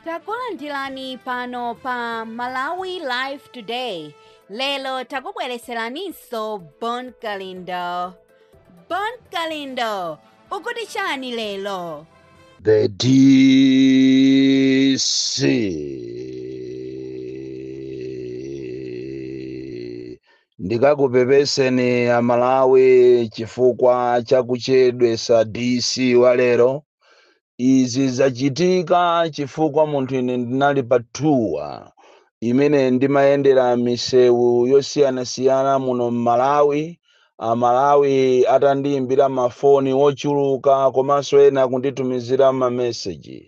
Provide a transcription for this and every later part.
takulandirani pano pa malawi live today lero takubwereseraninso bon kalindo bon kalindo ukuti chani lero The DC ndikakupepeseni amalawi chifukwa chakuchedwesa DC walero Izi zachitika chifukwa munthu ine ndinali pa tour imene ndimayendera misewu yosiyanasiyana muno m'Malawi, Amalawi atandiimbira mafoni ochuluka komanso ena kunditumizira mameseji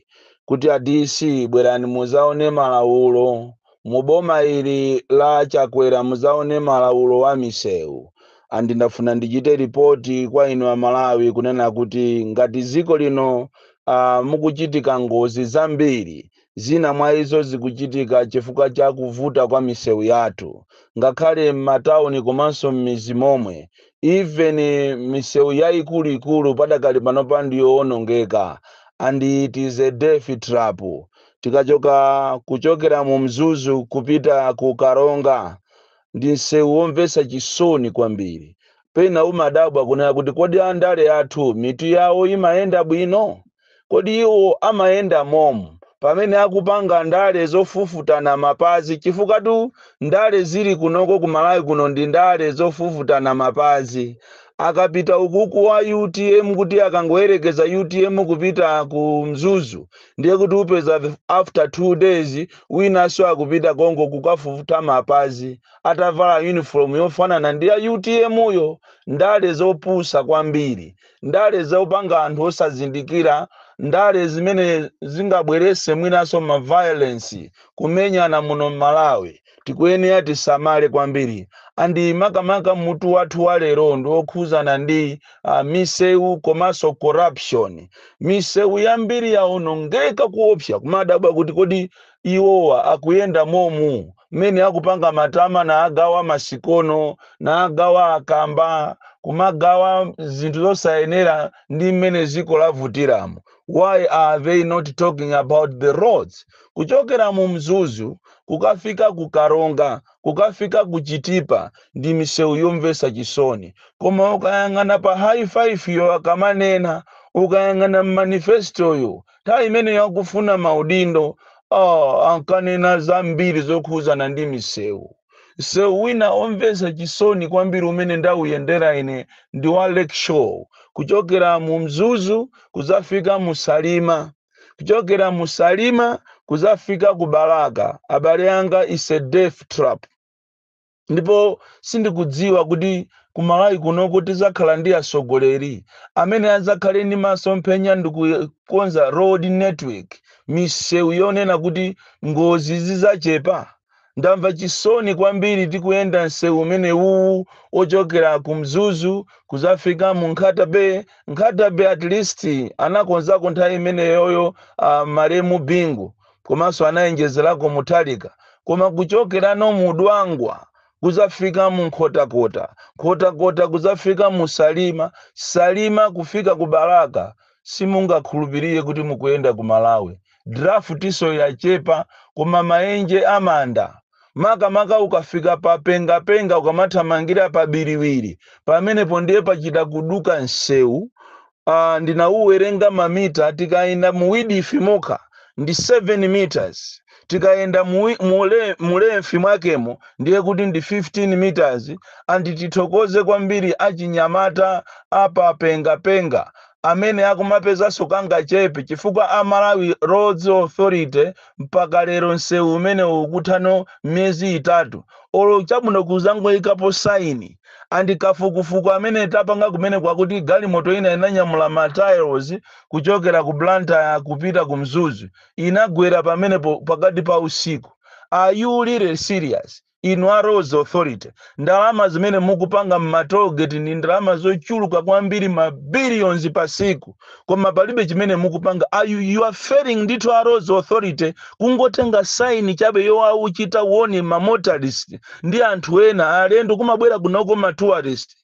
kuti a DC bwerani mudzaone malaulo Muboma ili la a Chakwera muzaone malaulo a miseu and ndafuna ndichite report kwa inu amalawi kunena kuti ngati ziko lino uh, mukuchitika ngozi zambiri zina mwa izo zikuchitika chifukwa cha kuvuta kwa miseu yathu ngakhale m'matauni komanso m'mizi momwe even miseu yaikuluikulu padakali panopa ndiyoonongeka and it is a death trap tikachoka kuchokera mu mzuzu kupita ku karonga ndi msewu womvetsa chisoni kwambiri pena umadabwa kunena kuti kodi andale athu mitu yawo imayenda bwino kodi iwo amayenda momu pamene akupanga ndale zofufutana mapazi chifukwatu ndale zili kunoko ku malawi kuno ndi ndale zofufutana mapazi akapita ukuku wa utm kuti akangoyerekeza utm kupita ku mzuzu ndiye kuti upeza after two days winanso akupita konko kukafufuta mapazi atavala uniform yofanana ndi ya utm yo ndale zopusa kwambiri ndale zopanga anthu osazindikira ndale zimene zingabwerese mwinanso maviolence kumenyana muno m'malawi tikuyenera tisamale kwambiri and makamaka mutu wathu wa lero ndi wokhuzana ndi uh, misewu komanso corruption misewu yambiri yaonongeka kuopsa kumadabwa kuti kodi iwowa akuyenda momu mmene akupanga matama naagawa masikono naagawa akamba kumagawa zinthu zosayenera ndi mmene ziko lavutiramo why are they not talking about the roads kuchokera mu mzuzu kukafika ku karonga kukafika ku chitipa ndi misewu yomvesa chisoni koma ukayang'ana pa high five yo akamanena ukayang'ana mmanifestoyo nthawi imene ankafuna maudindo oh, ankanena zambiri zokhuzana ndi misewu msewu wina omvetsa chisoni kwambiri umene ndauyendera ine ndi wa lakeshore kuchokera mu mzuzu kudzafika mu salima kuchokera mu salima kudzafika ku balaka abale anga is a death trap ndipo sindikudziwa kuti kumalawi kuno kuti tidzakhala ndi atsogoleri amene adzakhale ndi masomphenya ndi kukonza road network misewu yonena kuti ngozi zidzachepa Ndamva chisoni kwambiri tikuyenda msewu umenewuwu wochokera ku Mzuzu kuzafika mu Nkhata Bay. Nkhata Bay at least anakonzako nthawi imeneyoyo a malemu Bingu komanso anayenjezerako Mutharika. Koma kuchokerano mu Dwangwa kuzafika mu Nkhotakota, Nkhotakota kuzafika mu Salima, Salima kufika ku Balaka simungakhulupirire kuti mukuyenda ku Malawi. Drafutiso yachepa koma maenje amanda. Makamaka ukafika pa Pengapenga ukamathamangira pa Biriwiri pamenepo ndiye pachita kuduka nsewu. Uh, ndinauwerenga mamita tikayenda mu width mokha ndi 7 meters tikayenda mu length mwakemo ndiye kuti ndi 15 meters and tithokoze kwambiri achinyamata a pa Pengapenga amene akumapezanso kangachepe chifukwa a Malawi Roads Authority mpaka lero msewu umenewo ukutha no miyezi itatu olo chabwino kuzangoikapo sign and kafukufuku amene tapanga kumeneko akuti galimoto ina inanyamula ma tiles kuchokera ku Blantyre kupita ku Mzuzu inagwera pamenepo pakati pa usiku are you really serious inu a roads authority ndalama zimene mukupanga m'ma tollgate ndi ndalama zochuluka kwambiri ma billions pa tsiku koma palibe chimene mukupanga Are you, you are failing ndithu a roads authority kungotenga saini chabe yowachita warn ma motorist ndi anthu ena alendo kumabwera kunoko ma tourist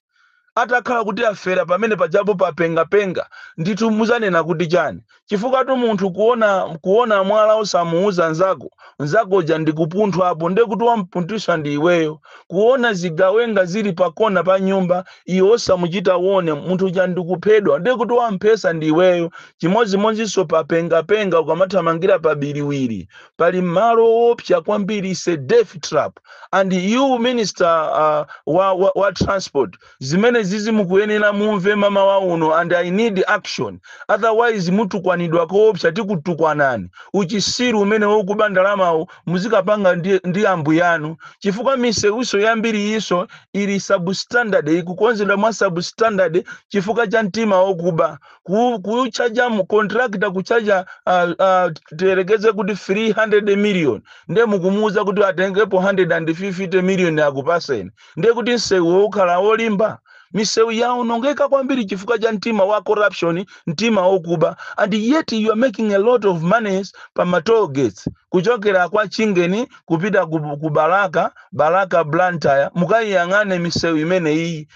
Atakhala kuti afera pamene pajapo pa pengapenga, ndithu mudzanena kuti chani? Chifukwatu munthu ukaona mwala osamuuza nzako, nzako uja ndi kupunthwapo nde kuti wamupunthwitsa ndi iweyo. Kuona zigawenga zili pa kona pa nyumba iwe osamuchita warn munthu uja ndi kuphedwa nde kuti wamuphesa ndi iweyo. Chimodzimodzinso pa pengapenga ukamathamangira pa biriwiri. pali malo owopsa kwambiri is a death trap and you minister uh, wa, wa, wa transport zimenezizi mukuyenera mumve mamawa uno and i need action otherwise mutukwanidwa koopsa tikutukwanani uchisiru umene wokuba ndalamawu muzikapanga ndi, ndi ambuyanu chifukwa misewuso yambiri iso ili substandard ikukonzedwa mwa substandard chifukwa cha mtima wokuba ku- kuchaja contractor kuchaja uh, uh, tiyerekeze kuti 300 million nde mukumuuza kuti atengepo 150 million akupaseni nde kuti msewuwo ukhala wolimba misewu yaonongeka kwambiri chifukwa cha mtima wa corruption mtima wokuba and yet you are making a lot of monies pa ma toll gates kuchokera kwa chingeni kupita ku, ku Balaka Balaka blantyre mukayiyang'ane misewu imeneyi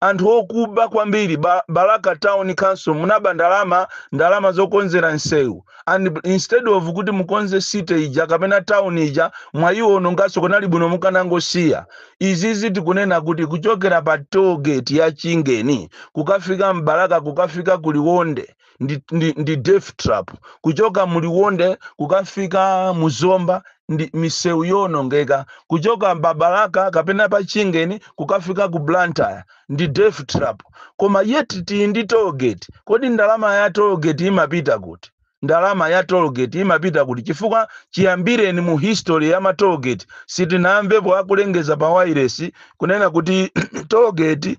anthu okuba kwambiri ba, balaka town council munaba ndalama ndalama zokonzera nsewu and instead of kuti mukonze city ija kapena town ija mwayiwononganso kunali kwabwino mukanangosiya izi izi tikunena kuti kuchokera pa toll gate ya chingeni kukafika mbalaka kukafika kuliwonde ndi, ndi, ndi death trap kuchoka muliwonde kukafika muzomba ndi misewu yoonongeka kuchoka pa Balaka kapena pa chingeni kukafika ku blantyre ndi death trap koma yet tili ndi tolgate kodi ndalama ya tolgate imapita kuti ndalama ya tolgate imapita kuti chifukwa chiyambireni mu history ya matolgate sitinamvepo akulengeza pa wairesi kunena kuti tolgate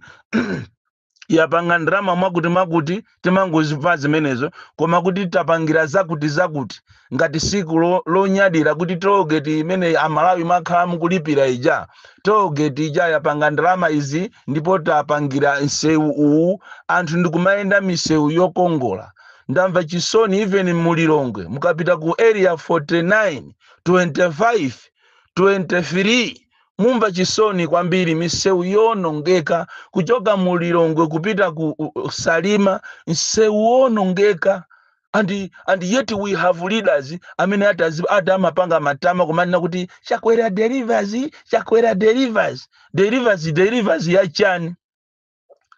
yapanga ndalama mwakuti mwakuti timangozidziwa zimenezo koma kuti tapangira zakuti zakuti ngati tsiku lo- lonyadira kuti tolgate imene amalawi mwakhala mukulipira ija tolgate ija yapanga ndalama izi ndipo tapangira msewu uwu anthu ndikumayenda misewu yokongola ndamva chisoni even mulilongwe mukapita ku area 49 25 23 Mumva chisoni kwambiri misewu yoonongeka kuchoka mu Lilongwe kupita ku u- u- Salima, msewu woonongeka and, and yet we have leaders amene ati azi- ati amapanga matama kumanena kuti chakwera delivers chakwera delivers delivers delivers ya chani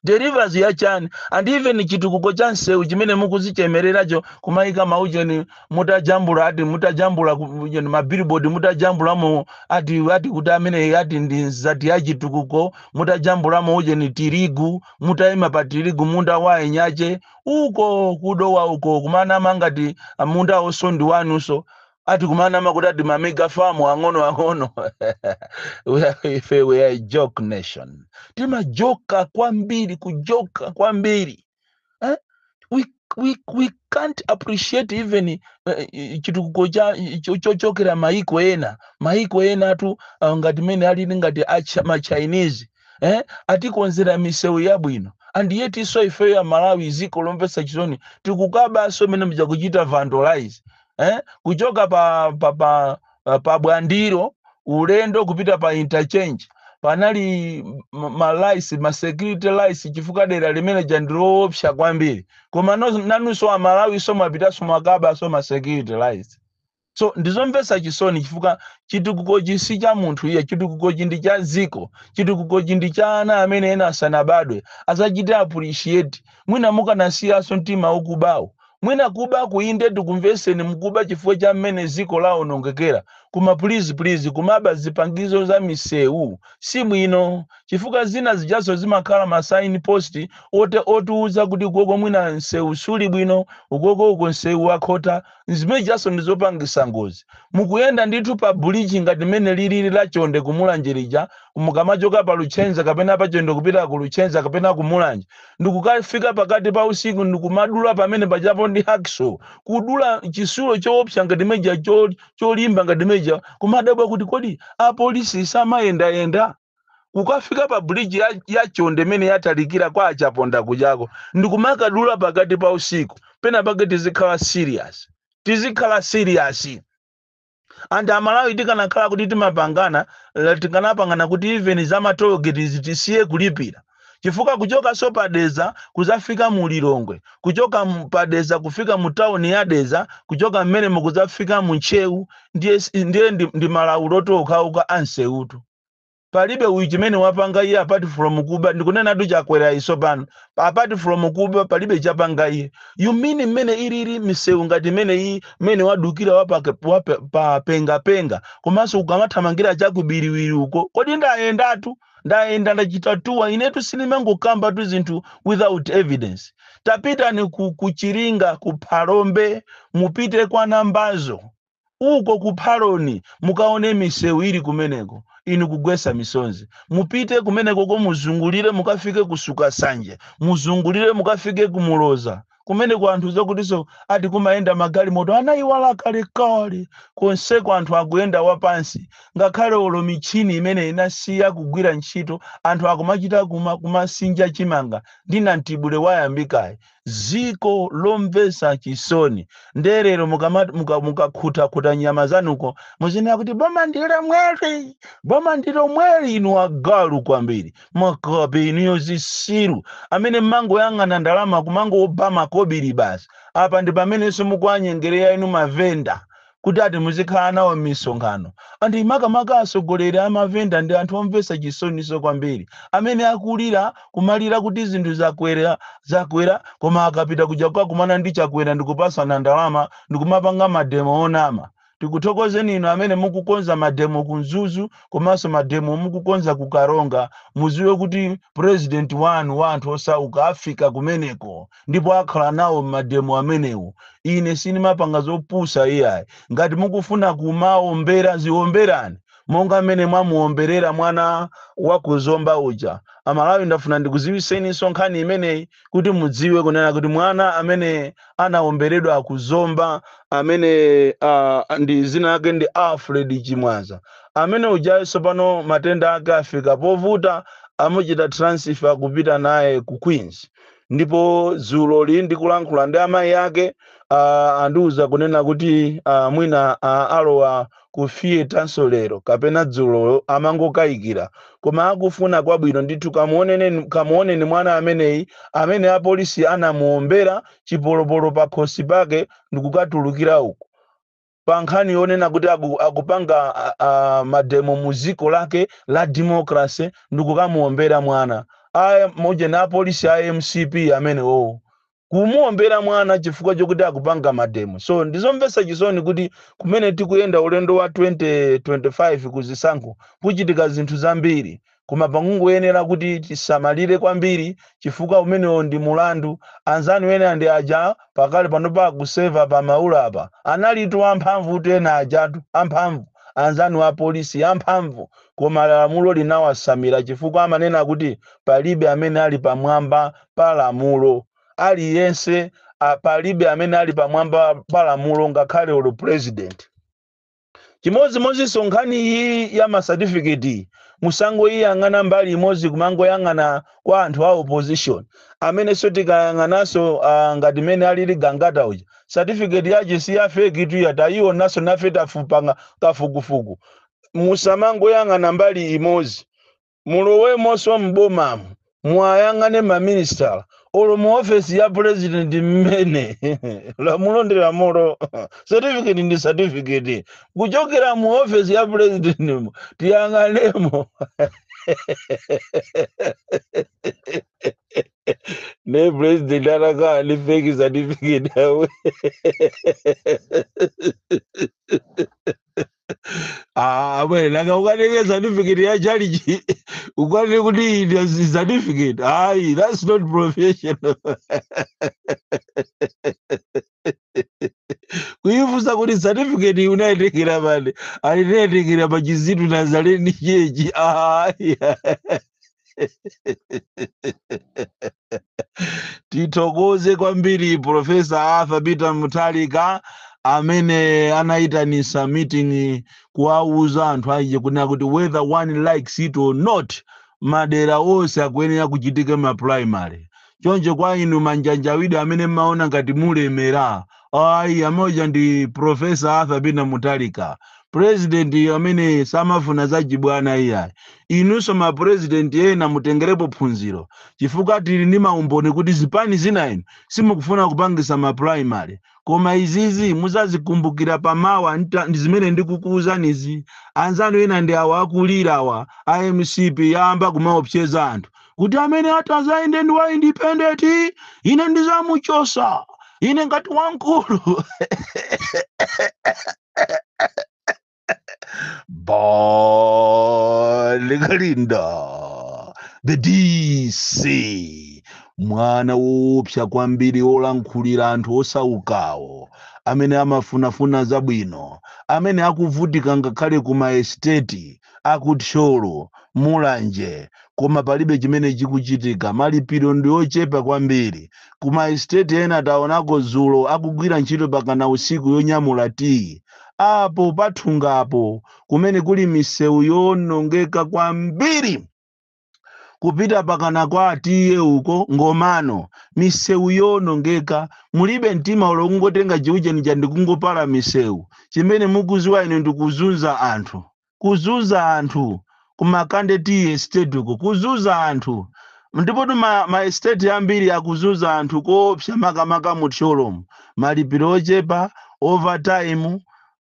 delivers ya chani and even chitukuko cha msewu chimene mukudzichemereracho kumayika maujeni mutajambula ati mutajambula ku- ujeni mabillboard mutajambulamo ati ati kuti amene ati ndi nsichi ya chitukuko mutajambulamo ujeni tirigu mutayima pa tirigu munda wa eni ake uko kudowa uko kumanama ngati munda wonsewo ndi wanunso ati kumanama kuti ati mamega farm ang'ono ang'ono We are- ife we are a joke nation timajoka kwambiri kujoka kwambiri eh? we, we, we can't appreciate even eh, eh, chitukuko cha cho- chochokera maiko ena maiko ena atu ah, ngati mene alili ngati acha- machinese eh? atikonzera misewu yabwino and yet iso ifeyo amalawi dziko lomvetsa chisoni tikukabaso mmene muja kuchita vandalize eh? kuchoka pa, pa, pa, pa, pa bwandiro ulendo kupita pa interchange panali ma- malaitsi masecurity lights chifukwa dera limene lija ndi loopsa kwambiri koma no- nanunso amalawiso mwapitanso mwakabanso masecurity lights so ndizomvetsa chisoni chifukwa chitukukochi si cha munthu iyayi chitukukochi ndi cha dziko chitukukochi ndi cha ana amene ena asanabadwe azachite appreciate mwina mukanasiyanso mtima ukubawo Mwina kubako inde tikumveseni mukuba chifukwa cha mmene ziko lawonongekera koma please please kumaba zipangizo za misewu sibwino chifukwa zina zijaso zimakhala ma sign post oti otiuza kuti ukoko mwina nsewu sulibwino ukoko uko nsewu wakhota zimenezijaso ndizopangisa ngozi mukuyenda ndithu pa bridge ngati mmene liliri la chonde ku mulanje lija mukamachoka pa luchenza kapena pa chonde kupita ku luchenza kapena ku mulanje ndikukafika pakati pa usiku ndikumadula pamene pajapo ndi hacksaw kudula chisulo choopsa ngati chimecheja cho, cholimba ngati chimecheja kumadabwa kuti kodi apolisi samayendayenda kukafika pa bridge ya, ya chonde imene yatalikira kwa achaponda kujako ndikumakadula pakati pa usiku pena pake tizikhala serious tizikhala serious And amalawi tikanakhala kuti timapangana la- tikanapangana kuti even za matologeti izi tisiye kulipira chifukwa kuchokanso pa deza kuzafika mu lilongwe kuchoka mu- pa deza kufika mu tawuni ya deza kuchoka mmenemo kuzafika mu ntcheu ndiye, s- ndiye ndi, ndi malabulo okhaokha nsewutu palibe chimene wapanga iye apart from kuba ndikunenatu Chakwerayu tsopano apart from kuba palibe chapanga iye you mean mmene ilili msewu ngati imene iyi mmene wadukira wapake- wape- pa pengapenga komanso ukamathamangira cha ku Biriwiri uko kodi ndayendatu ndayenda ndachita tour inetu sindimangokambatu zinthu without evidence tapitani ku, ku chiringa ku phalombe mupite kwa nambazo uko ku phaloni mukaone misewu ili kumeneko inu kugwesa misonzi mupite kumenekoko muzungulire mukafike ku sukasanje muzungulire mukafike ku muloza kumeneko anthu zokutiso ati kumayenda magalimoto anayiwala kalekale konseko anthu akuyenda wapansi ngakhale olo mitchini imene inasiya kugwira ntchito anthu akumachita kuma kumasinja chimanga ndi namtibule wayambikayu dziko lomvetsa chisoni nde lero mukama- muka- mukakhutakhuta nyama zanuko muzinena kuti boma ndi lomweli boma ndi lomweli inu agalu kwambiri makape inuyo zisiru amene mmangoyang'ana ndalama kumangoba makobiri basi apa ndi pamenenso mukuwanyengerera inu mavenda kuti ati muzikhala nawo m'misonkhano. And makamaka atsogoleri a mavenda ndi anthu omvetsa chisoninso kwambiri amene akulira, kumalira kuti zinthu zakwera, zakwera koma akapita kuja kukakumana ndi Chakwera ndikupatsana ndalama, ndikumapanga mademo onama. Tikuthokozeni inu amene mukukonza mademo ku Mzuzu komanso mademo mukukonza ku Karonga. Mudziwe kuti President wanu wa anthu osauka afika kumeneko. ndipo akhala nawo m'mademo amenewo. Ine sindimapanga zopusa iyayi. Ngati mukufuna kumawombera, ziwomberani monga mmene mwamuwomberera mwana wa ku Zomba uja. Amalawi ndafuna ndikuziwiseninso nkhani imeneyi kuti mudziwe kunena kuti mwana amene anawomberedwa ku Zomba amene uh, ndi zina lake ndi Alfred Chimwaza amene ujayi tsopano matenda ake afika povuta amuchita transfer kupita naye ku Queens ndipo dzuloli ndikulankhula ndi amayi ake ah, andiuza kunena kuti ah, mwina ah, alowa ku theatrenso lero kapena dzulo amangokayikira koma akufuna kwabwino ndithu kamuoneni kamuoneni mwana ameneyi amene apolisi anamuombera chipolopolo pakhosi pake ndikukatulukira uku pa nkhani yonena kuti aku, akupanga a, a, mademo mu dziko lake la democracy ndikukamuombera mwana a Mojani apolisi a mcp amenewo kumuombera mwana chifukwa chokuti akupanga mademo so ndizomvetsa chisoni kuti kumene tikuyenda ulendo wa 2025 ku zisankho kuchitika zinthu zambiri Koma pangoyenera kuti tisamalire kwambiri chifukwa umenewo ndi mulandu. Anzanu ena ndi aja pakali panopa akuseva pa Maula apa. Analitu amphamvutu ena ajatu, amphamvu, anzanu a polisi, amphamvu, koma lamulo linawatsamira chifukwa amanena kuti palibe amene ali pamwamba pa lamulo. Aliyense a, palibe amene ali pamwamba pa lamulo ngakhale olo pulezidenti. chimodzimodzinso nkhani iyi ya masatifiketi musangoyiyang'ana mbali imodzi kumangoyang'ana kwa anthu a opposition amenenso tikayang'ananso ah, ngati mene alili Gangata uja satifiketi yake si ya feki titayionanso nafe tapanga kafukufuku musamangoyang'ana mbali imodzi Mulowemonso m'bomamu muwayang'ane ma minisitala olo mu office ya president mmene lamulo ndi lamulo certificate ndi certificate kuchokera mu office ya president mo tiyang'anemo ne president atakhala ndi fake certificate awe Ah, bwe nanga ukanenge certificate ya chalichi ukanene kuti iyi ndiyo si- certificate ayi that's not professional kuyifunsa kuti certificate iyi unayitengera pati anitayitengera pa chizitu nazaleni chechi ayi tithokoze kwambiri profesa arthur peter mutharika amene anayitanisa meeting kuwauza anthu aje kunena kuti whether one likes it or not madera onse akuyenera kuchitike ma primary choncho kwa inu manjanjawidi amene mmaona ngati mulemera ayi amodzi ndi professor arthur peter mutharika president amene samafuna zachibwana iyayi inunso ma president ena mutengerepo phunziro chifukwa tili ndi maumboni kuti zipani zina inu simukufuna kupangisa ma primary koma izizi muzazikumbukira pamawa ndi zimene ndikukuuzanizi anzanu ena ndi awa akulirawa a mcp yayamba kumaopseza anthu kuti amene atazayende ndi wa independent ine ndizamuchosa ine ndati wankulu bon kalindo the dc mwana woopsa kwambiri wolankhulira anthu osaukawo amene amafunafuna zabwino amene akuvutika ngakhale ku maesiteti a ku Thyolo, Mulanje koma palibe chimene chikuchitika, malipiro ndi ochepa kwambiri. Ku ma estate ena taonako dzulo akugwira ntchito pakana usiku yonyamula tiyi. Apo pathungapo kumene kuli misewu yoonongeka kwambiri! kupita pakana kwa atiye uko ngomano misewu yowonongeka mulibe mtima ulo kungotenga chiujeni cha ndikungopala misewu chimene mukuziwa inu ndikuzunza anthu kuzunza anthu kumakande tea estate uko kuzunza anthu ndipotu ma, ma estate ambiri akuzunza anthu koopsa makamaka mu thyolomu malipiro ochepa overtime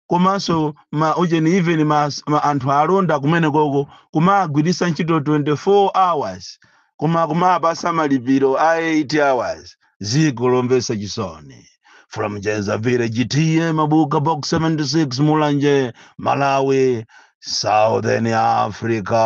komanso ma ujeni even ma, ma anthu alonda kumene koko kumagwiritsa ntchito 24 hours koma kumapasa malipiro a 8 hours ziko lomvetsa chisoni from jenza village ta mabuka box 76 mulanje malawi southern africa